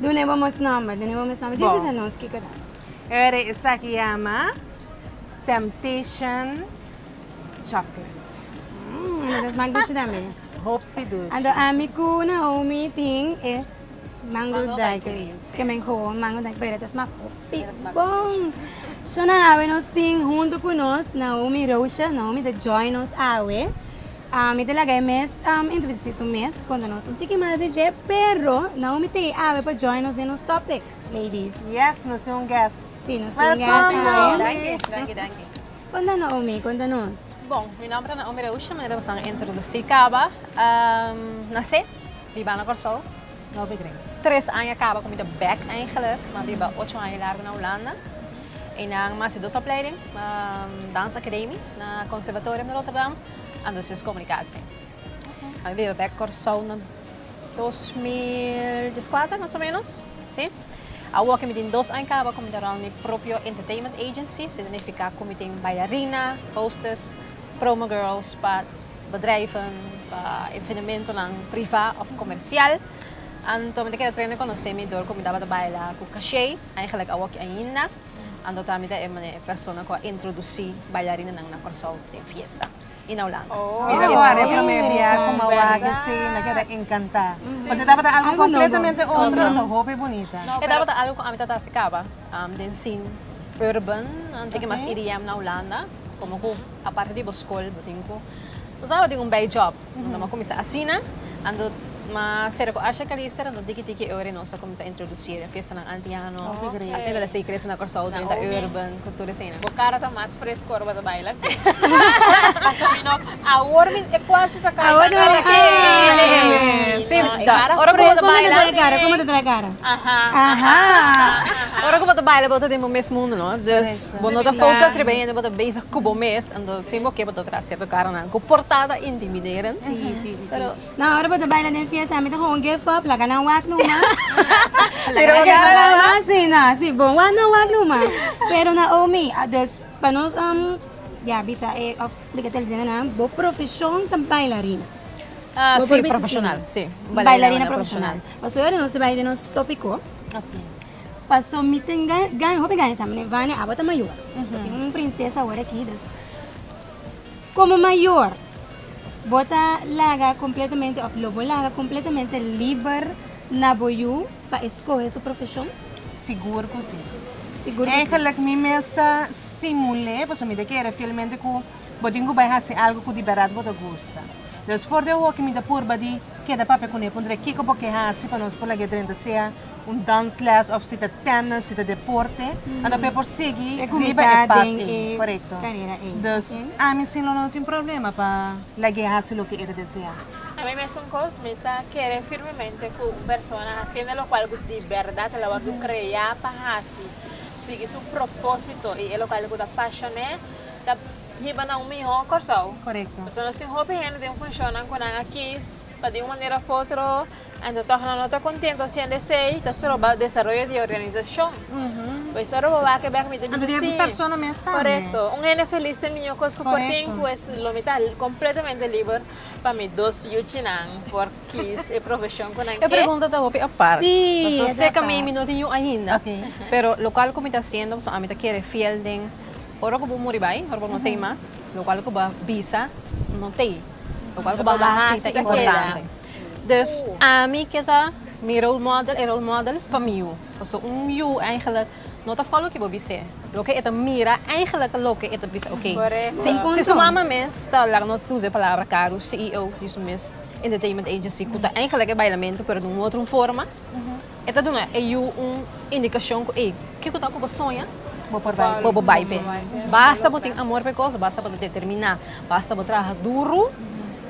Dune bo mot nomber, dune bo mes nomber. Djis bisa nos kiko ta. Oiere esaki yama Temptation Chocolate. Mmm mi ta smak dushi tambe. Hopi dushi. Anto ami ku Naomi tin e mango daiquiri. Ke men gewoon mango daiquiri pero e ta smak hopi bon. Shona awe nos tin huntu ku nos Naomi Roosha. Naomi ta join nos awe. Mi ta laga e mes introduci su mes con nos un tiki mas di dje, pero Naomi ta e awe pa join nos den nos topic, ladies. Yes, nos tin un guest. Si, nos tin un guest awe. Welcome, Naomi. Danki, danki. Konta Naomi, konta nos. Bon, mi nomber ta Naomi Reusha, manera boso a introduci caba. Nace, biba na Corsou. No be greng. Tres aña caba cu mi ta back eigenlijk, ma biba ocho aña y largo na Hulanda. Eynan a haci dos opleiding, Dance Academie na Conservatorium Rotterdam. Anto si es komunikasi. Mi biba bek Kòrsou na dos mil dieskuater mas o ménos, si. Awo ke mi tin dos aña kaba ku mi ta rònt mi propio entertainment agency, signifiká ku mi tin bailariina, hostess, promo girls pa bedrijven, pa evenementonan privá òf komersial. Anto mi ta keda trene konosé mi dor ku mi tabata baila ku kashei, aigelik awoki ainda. Anto ta mi ta e mane persona ku a introdusi bailarinenan na Kòrsou den fiesta i na Holanda. Mira ku are promé bia ku m'a wak si m'a keda enkantá. Pasobra e tabata algu kompletamente otro anto hopi bunita. E tabata algu ku ami ta trahasi kaba den sin urban anto ke mas EDM na Holanda. Komo ku aparte di bo skol bo tin ku bo sa bo tin un bei job. Nos lo a cuminsa asina. Ando ma cera cu Asha Calister, ando tiki tiki e ora y nos a cuminsa introduci e fiestanan antiano. Asina ta sigue crecendo na Corsou, ta benta urban cu tur esina. Bo cara ta mas fresco ora bo ta baila así. Pasobra no, awor mi e cuarto ta cai na cara ken. Sí, ta. Ora cu bo ta baila. Preso no ta trae cara, como ta trae cara? Aha, aha, aha. Ora cu bo ta baila bo ta den bo mes mundo no. Dus bo no ta focus riba hende, bo ta bezig cu bo mes. Si bo ke bo ta traha sierto karonan ku portada intimiderend pero No, ora bo ta baila den fiesta mi ta gewoon give up laga nan wak numa Pero laga nan wak numa si na si bon wak nan wak numa pero na Omi dus pa nos ya bisa e of splika televidente nan bo profeshon ta bailarina Bo por bisa si un bailarina profeshonal pasobra nos ta bai den nos topiko. Paso mi tin gaña, hopi gaña sa, meneer Vane abo ta mayor, dus bo tin un prinsesa awor aki, dus komo mayor bo ta laga kompletamente òf lo bo laga kompletamente liber na bo yu pa eskohe su profeshon? Sigur ku si. Sigur ku si. Eigenlik mi mes ta stimul'é, paso mi ta kere fielmente ku bo tin ku bai hasi algu ku di bèrdat bo ta gusta. Dus for di awoke mi ta purba di keda papia kuné, puntra kiko bo ke hasi pa nos por lag'é drenta sea un dansles of si ta tennis si ta deporte anto por e por sigui riba e pad ey corecto dus ami sin lo no tin problema pa lagu'e haci loke e ta desea. Ami mesun cos mi ta kere firmemente cu un persona haciendo locual cu di berdad lo a word crea pa haci sigui su proposito y e locual cu ta pasion'e ta hiba na un miho Corsou pasobra nos tin hopi hende den funcionnan cu nan a kies pa di un manera of otro. Anto tòg nan no ta kontento hasiendo esei, ta stroba desaroyo di e organisashon. Pues ora bo wak e bèk mi ta bisa si. Anto di e persona mes tambe. Korekto. Un hende felis ta e mihó kos ku por tin, pues lo mi ta kompletamente liber pa mi dos yuchinan por kis e profeshon ku nan ke. E pregunta ta hopi apart. Sí, e ta apart. Paso sekamei mi no tin yu ainda. Oke. Pero lokal ku mi ta hasiendo, paso ami ta kere fiel den ora ku bo muri bai, ora bo no tei mas, lokal ku bo a bisa no tei. Lokal ku bo a hasi ta importante. Dus ami ke ta mi role model, e role model pa mi yu. Paso un yu eigenlijk no ta folo loke bo bis'é. Loke e ta mira eigenlijk loke e ta bisa ok. Si su mama mes ta laga nos usa e palabra karu, CEO di su mes entertainment agency, ku ta eigenlijk e bailamento pero di un otro forma, E ta duna e yu un indikashon ku, Ei, ke ku ta ku bo soña, pa bo bai p'e. Basta bo tin amor p'e kos, basta bo ta determiná, basta bo traha duru,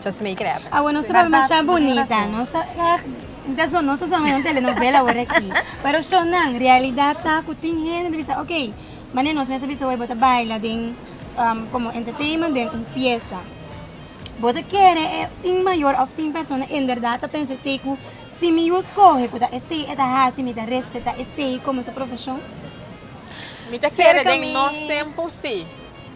just make it happen. Awe nos ta papia masha bunita, nos ta ègt tin asun nos ta sa mihó un telenovela awor aki. Pero shonnan, realidat ta ku tin hende ta bisa, ok, mane nos mester bisa awor bo ta baila den komo entertainment den un fiesta, bo ta kere e tin mayor òf tin persona enbèrdat ta pensa esei ku. Si mi yu skohe ku ta esei e ta hasi, mi ta respetá esei komo su profeshon. Mi ta kere den nos tempu sí,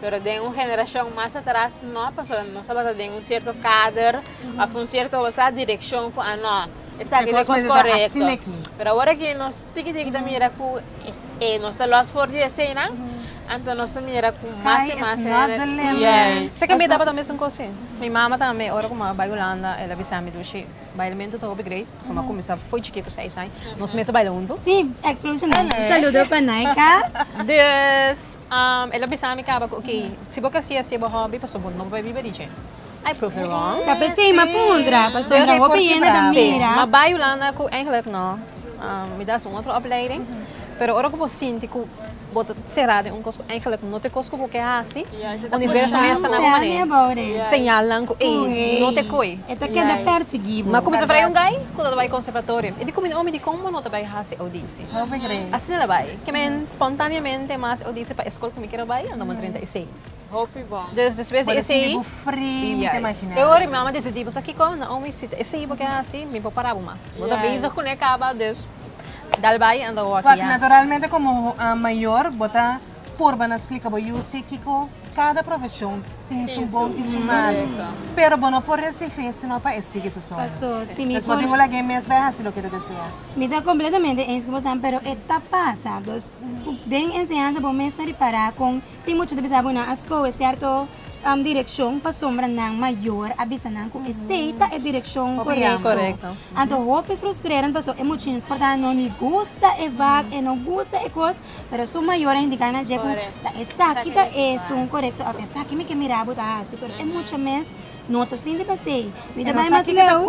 pero den un generashon mas atras no, pasobra nos tabata den un sierto kader òf un sierto sa direkshon ku a no, esaki ta e kos korekto. Pero awor aki nos tiki tiki ta mira ku e nos ta lòs for di eseinan, anto nos ta mira ku mas i mas yais. Seki mi tabata mesun kos sí. Mi mama tambe, ora ku mama bai Hulanda, el a bisa mi dushi. Bailamento ta hopi great, pasobra mi a kuminsá fo'i chikí ku seis aña. Nos mes a baila huntu. Sí, Explosion Dance. Un saludo pa Naika. Dus, el a bisa mi kaba ku oké, si bo kasié hasié bo hòbi, pasobra bo no por biba di dje. I proved her wrong. Ta p'esei mi a puntra, pasobra hopi hende ta mira. Sí, ma bai Hulanda ku, eigentlik no, mi dasa un otro opleiding, pero ora ku bo sinti ku. Bo ta será den un kos ku eingelik no ta e kos ku bo ke hasi. Universo mester ta na bo manera. Señalnan ku ey no ta e koi. E ta keda persiguí bo. M'a kuminsá bai un gai ku no ta bai konservatorio. E di ku mi, Omi, di kon bo no ta bai hasi oudisi? Asina ta bai. Ke men spontaneamente mas oudisi pa e skol ku mi keda bai, Andoman trinta i seis. Hopi bon. Dus despues di esei. Bo ta sinti bo fri mi ta imagina. Yes. E ora mi mama decidí pasobra kiko Naomi si ta esei bo ke hasi mi por para bo mas. Bo ta bezig kuné kaba dus dal bai anda wòkì ya. Wak naturalmente komo mayor bo ta purba na splika bo yu si kiko kada profeshon tin su bon tin su malu. Pero bo no por resigí sino pa e sigui su soño. Pasó si mi por. Despues di un lagué mes bai hasi loke ta desea. Mi ta completamente eens ku bosan pero e ta pasa. Dus den enseñansa bo mester di para kon. Tin mucha ta bisa bo nan a skohe sierto direccion pasobra nan mayor a bisa nan cu esey ta e direccion corecto. Anto hopi frustrerend paso e muchnan por ta no ni gusta e vak e no gusta e cos pero su mayor a indica nan dje cu ta esaki ta esun corecto of esaki mi ke mira bo ta haci pero e mucha mes no ta sinti pesey. Mi ta bay mas leu,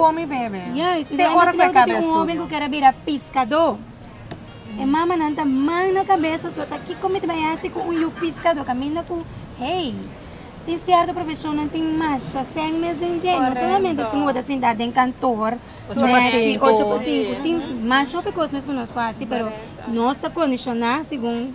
yes, mi ta bay mas leu ta tin un hoben cu kere bira piscado. E mamanan ta man na kabes pasobra kiko mi ta bai hasi ku un yu piskadó kaminda ku hei. Tin sierto profeshonnan tin masha sèn mes den dje, no solamente su no bo ta sintá den kantor nèchi ocho pa sinku, tin masha hopi kos mes ku nos por hasi pero nos ta kondishoná segun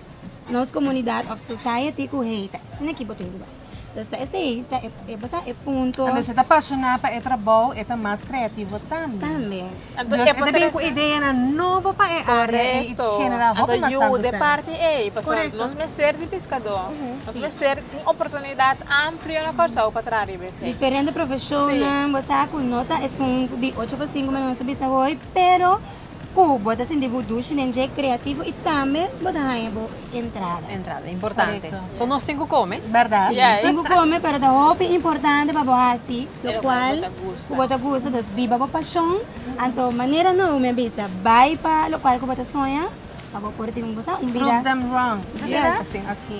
nos komunidat òf society ku hei ta esaki bo tin ku bai. Entonces ta esei ta e bo sa e punto. Cuando esei ta pasioná pa e trabou e ta mas creativo tambe. Tambe. Entonces e ta bini cu ideanan nobo pa e área ei y ta genera hopi mas tantu cen. Correcto. Ata yuda e parti ei. Pasobra Correcto. nos mester di piscadó. Ujú. Si. Nos mester un oportunidad amplio na Kòrsou pa traha riba esei. Diferente profecionnan. Si. Bo sa cu no ta esun di ocho pa sinku, manera nos a bisa hoy, pero. Ku bo ta sinti bo dushi den dje kreativo i tambe bo ta haña bo entrada. Entrada importante. Korekto. So nos tin ku kome. Bèrdat. Si, nos tin ku kome, pero ta hopi importante pa bo hasi lokual ku bo ta gusta. Dus biba bo pashon. Anto manera Naomi a bisa, bai pa lokual ku bo ta soña pa bo por tin, bo sa, un bida. Prove them wrong. Bo ta si dat? Yes. Oké.